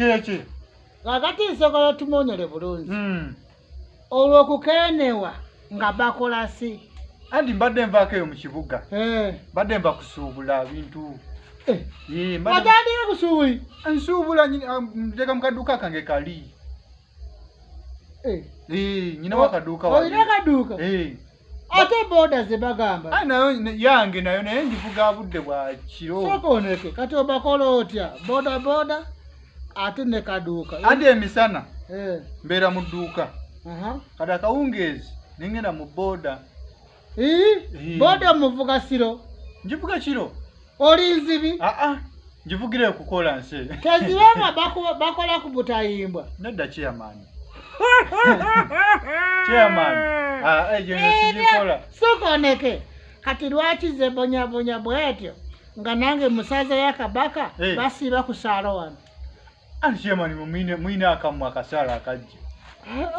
kyeki kakati nsobola tumonyole bulungi hmm. olwokukenewa nga bakola si anti mbadde nvaako eyo mu kibuga eh. mbadde nva kusuubula bintu atandika kusuubuli nsuubula ah, nteka mu kadduka kange kali Eh. Eh, nyina wakaduuka olina kaduuka eh. ate boda zebagamba ah, nayo yange nayo naye njivuga budde bwa kiro sokoneke kati obakola otya boda boda ate ne kaduuka ate emisana mbeera mu dduuka kati akawungeezi nengenda mu boda boda muvuga siro njivuga kiro oli nzibi aa ah, ah. njivugira okukola nsi tezibanga bakola ku butayimbwa nedda kiyamaani kiyamaani ah, eyo eh, nesiikola sokoneke kati lwaki zebonyabonya bwetyo nga nange musaza ya kabaka eh. basiiba ku saalo wano Anshemani mwine mwine akamwa akasala akajja.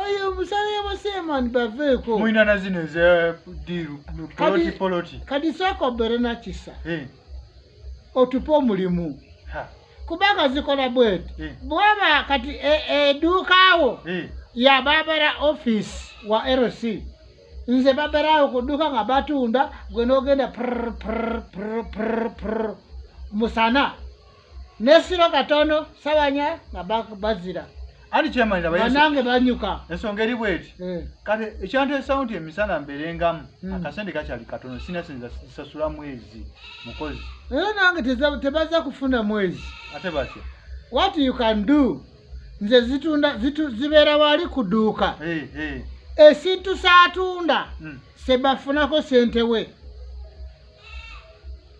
Ayo musale yabo seman baveko. Mwina na zino ze diru poloti poloti. Kadi soko bere na kisa. Eh. Otupo mulimu. Ha. Kubanga zikola bwet. Eh. Bwaba kati e, e dukawo. Eh. Ya babara office wa RC. Nze babara okuduka nga batunda gwe nogenda prr prr prr prr musana. nesiro katono sabanya nga bazira banange banyuka ensonga eri bweti eh. kati ekyanteesawo nti emisana mberengamu hmm. akasente kakyali katono sina sinza sasula mwezi mukozi era nange tebaza kufuna mwezi ate batya what you can do nze zitunda zibeera wali kuduuka eh, eh. esintu saatunda hmm. sebafunako sente we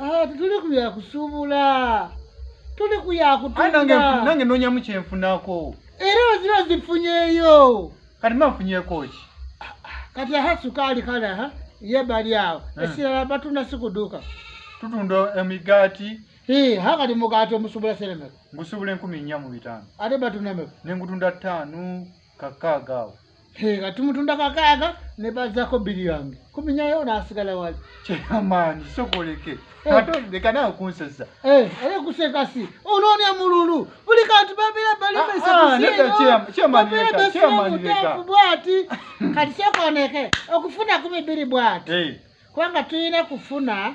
Ah, tuli ku ya kusuubula tuli ku ya Ayi, nange nfu- kutunda nange nonyamu kyenfunako era oziba zifunyeeyo kati mba nfunyeko ki kati aha sukaali kale aha ye bali awo Eh. esirala batunda sikuduuka tutunda emigaati Hii, ha kati mugaati omusuubula seremeka ngusuubula enkumi nnya mu bitaano ate batunda meka nengutunda ttaano kakaaga awo nga tumutunda kakaaga ne bazako biri yange kuminyayo nasigala wali kyamaanyi sokoleke eh. ate leka nawe kunsesa eh, aye kuseka si onoonya mululu buli kantu babira balimesebusimutefu bwati kati sokoneke okufuna kumi biri bwati eh. kubanga tulina kufuna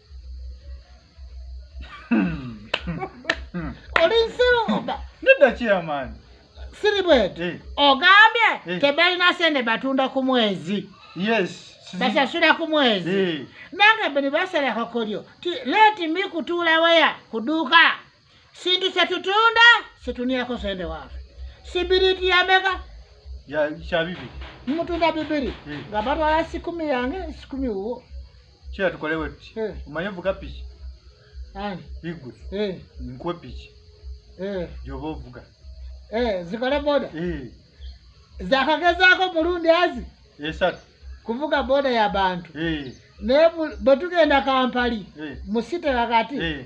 oli nsiruuba nedda kiyamaani siri bweti eh. ogambye eh. tebalina sente batunda ku mwezi yes basasula ku mwezi nange bni basalako kulyo leti mi kutuula waya kuduuka sintu setutunda situniako sende wafe sibiriti yameka kyabibi mutunda bibiri hmm. nga batwala sikumi yange sikumi wuwo kira tukole wepi hmm. omanye ovuga piki igwe hmm. nkuwe piki gyoba ovuga zikole boda zakagezako mulundi azi esatu kuvuga boda ya bantu naye bwetugenda kampali musite kakati